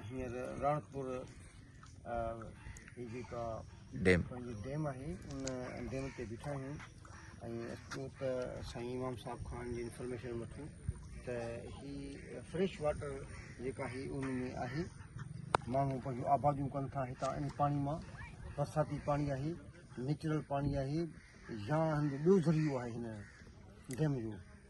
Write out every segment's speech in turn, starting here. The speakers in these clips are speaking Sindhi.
هينئر راڻڪپور جيڪا ڊيم پنهنجي ڊيم آهي ان ڊيم تي بيٺا آهيون ۽ اچو ته سائين امام صاحب خان جي انفارميشن وٺون ته هي فريش واٽر جيڪا آهي ان ۾ آهي ماڻهو پنهنجون آباديون ڪن ٿا هتان ان پاڻي مان برساتي پاڻي آهي نيچرل پاڻي آهي يا هن جو ٻيو ذريعو آهي هن ڊيم جو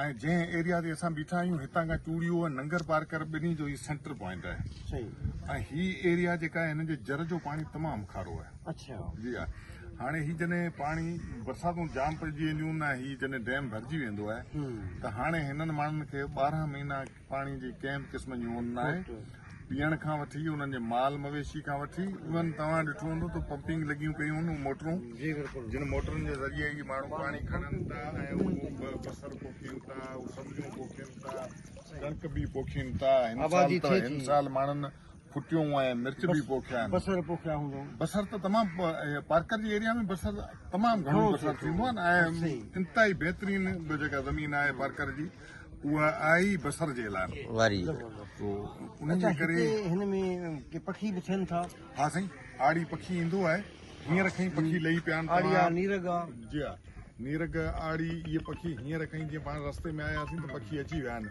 ۽ جنهن ايريا تي اسان بيٺا آهيون هتان کان چوڙيو ۽ ننگر پارڪر ٻنهي جو هي سينٽر پوائنٽ آهي ۽ هي ايريا جيڪا آهي هن جي جر جو پاڻي تمام کارو آهي جي ها هاڻي هي جڏهن پاڻي برساتون جام پئجي وينديون ۽ هي جڏهن ڊيم ڀرجي ويندو آهي ته هاڻي هنن ماڻهن کي ٻارهن مهينا پاڻي جي ڪنهن به قسم جي هوند ناهي، پيئڻ کان وٺي انهن جي مال مويشي کان وٺي ايون توهان ڏٺو هوندو ته پمپنگ لڳيون پيون هن اهي موٽرون جن موٽرن جي ذريعي ئي ماڻهو پاڻي کڻن ٿا ۽ اهي بصر پوکين ٿا اهي سبزيون پوکين ٿا ڪڻڪ به پوکين ٿا هن سال ماڻهن ڦٽيون ۽ مرچ به پوکيا آهن بصر پوکيا هوندو بصر ته تمام پارڪر جي ايريا ۾ بصر تمام گهڻو بصر ٿيندو آهي ۽ انتهائي بهترين جيڪا زمين آهي پارڪر جي اها آهي ئي بصر جي لاء واري تو ان جي ڪري هن ۾ ڪي پکي به ٿين ٿا ها سائين آڙي پکي ايندو آهي هينئر کي پکي لهي پيا آهن آڙي آهي نيرگ آهي جي ها نيرگ آڙي اهي پکي هينئر کي جيئن پاڻ رستي ۾ آياسين ته پکي اچي ويا آهن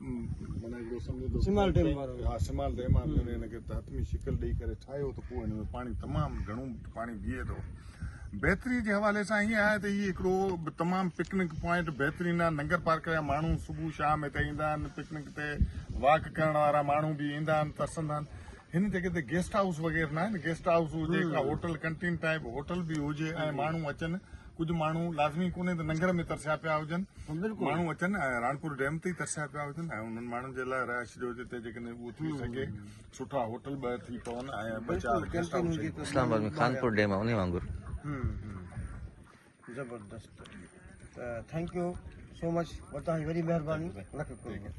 معنيٰ هڪڙو سمجهو ته سمال ڊيم وارو ها سمال ڊيم آهي جنهن هن کي تحتمي شڪل ڏيئي ڪري ٺاهيو ته پوء هن ۾ پاڻي تمام گهڻو پاڻي بيهي ٿو بهتري جي حوالي سان هيئن آهي ته هي هڪڙو تمام پڪنڪ پوائنٽ بهترين آهي ننگر پارڪ جا ماڻهو صبح شام هتي ايندا آهن پڪنڪ تي واڪ ڪرڻ وارا ماڻهو به ايندا آهن ترسندا آهن هن جڳهه تي گيسٽ هائوس وغيرہ نه آهن گيسٽ هائوس هجي ڪا هوٽل ڪنٽين ٽائپ هوٽل به هجي ۽ ماڻهو اچن ڪجهه ماڻهو لازمي ڪونهي ته ننگر ۾ ترسيا پيا هجن ماڻهو اچن ۽ راڻپور ڊيم تي ترسيا پيا هجن ۽ انهن ماڻهن جي لاء رهائش جو جتي جيڪڏهن اهو ٿي سگهي سٺا هوٽل ٻه ٿي پون ۽ ٻه چار guest house Islamabad ۾ Khanpur dam انهي وانگر زبردست ته ٿينڪ يو سو مچ وتان جي وڏي مهرباني لک ڪروڙ